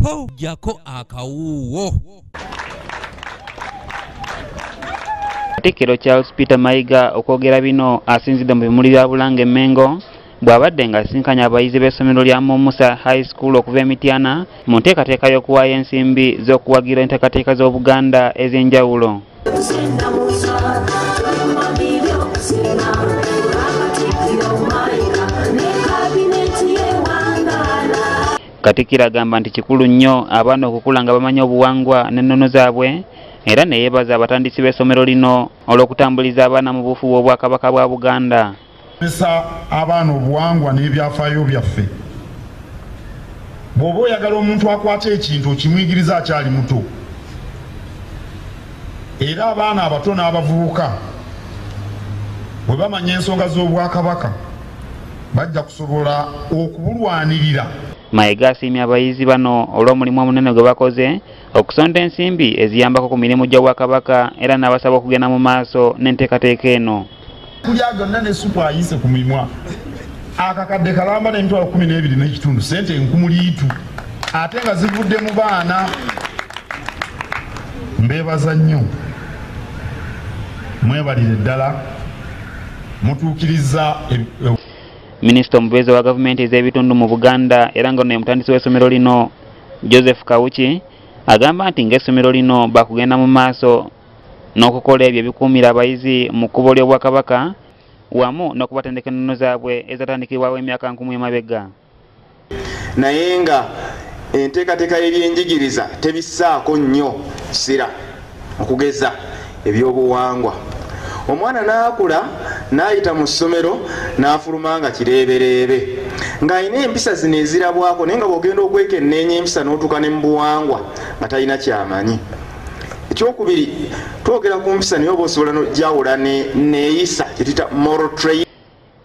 ho jako akawuwo Katikkiro Charles Peter Mayiga okwogera bino asinzidde mu bimuli bya Bulanga e Mmengo bw'abadde ng'asisinkanye abayizi b'essomero lya Mumusa High School okuva e Mityana mu nteekateeka y'okuwaayo ensimbi z'okuwagira enteekateeka z'Obuganda ez'enjawulo. Katikkiro agamba nti kikulu nnyo abaana okukula nga bamanyi obuwangwa n'ennono zaabwe era ne yeebaza abatandisi b'essomero lino olw'okutambuliza abaana mu buufu bw'Obwakabaka bwa Buganda. Kozesa abaana obuwangwa n'ebyafaayo byaffe. Bw'oba oyagala omuntu akwate ekintu okimuyigiriza akyali muto era abaana abato n'abavubuka bwe bamanya ensonga z'Obwakabaka. bajja kusobola okubulwanirira. Mayega asiimye abayizi bano olw'omulimu omunene gwe bakoze okusonda ensimbi eziyambako ku mirimu gy'Obwakabaka era n'abasaba okugenda mu maaso n'enteekateeka eno. Kulya gonna ne supu ayise ku mimwa akakadde kalamba n'emitwalo kumi n'ebiri n'ekitundu ssente enkumuliitu ate nga zivudde mu baana mbeebaza nnyo mwebalire ddala mutuukirizza minisita omubeezi wa gavumenti ez'ebitundu mu buganda era nga ono emutandisi w'essomero lino joseph kawuki agamba nti ng'essomero lino bakugenda mu maaso n'okukola ebyo ebikuumira abayizi mu kkubo ly'obwakabaka wamu n'okubatendeka ennono zaabwe ezatandikibwawo emyaka nkumu emabega naye nga enteekateeka y'ebyenjigiriza tebissaako nnyo kisira okugeza ebyobuwangwa omwana n'akula n'ayita mu ssomero n'afuluma nga kireebereebe ng'alina empisa zino ezirabwako naye nga bw'ogenda okwekenneenya empisa n'otuuka ne mu buwangwa nga talina kyamanyi ekyokubiri twogera ku mpisa naye oba osobola nojawula neyisa kyetuyita moral train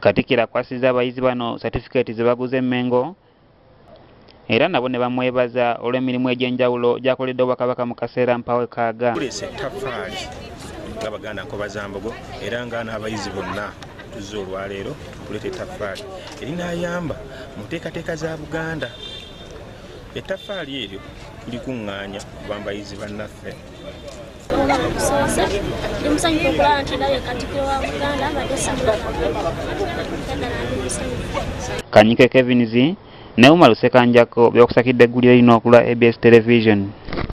Katikkiro akwasizza abayizi bano satifikeeti ze baguze e Mengo era nabo ne bamwebaza olw'emirimu egy'enjawulo gy'akoledde Obwakabaka mu kaseera mpawe kaaga. Tuleese ettaffaali nga Baganda Nkobazambogo era nga n'abayizi bonna tuzze olwaleero tuleeta ettaffaali erinaayamba mu nteekateeka za Buganda. Ettaffaali eryo tulikuŋŋaanya kuva mu bayizi bannaffe. okusoose ndi musanyufu okulaba nti ndabye katikiro wa buganda badde kanyike kevins ne umar sekanjako byokusakidde eggulire lino okulwa abs television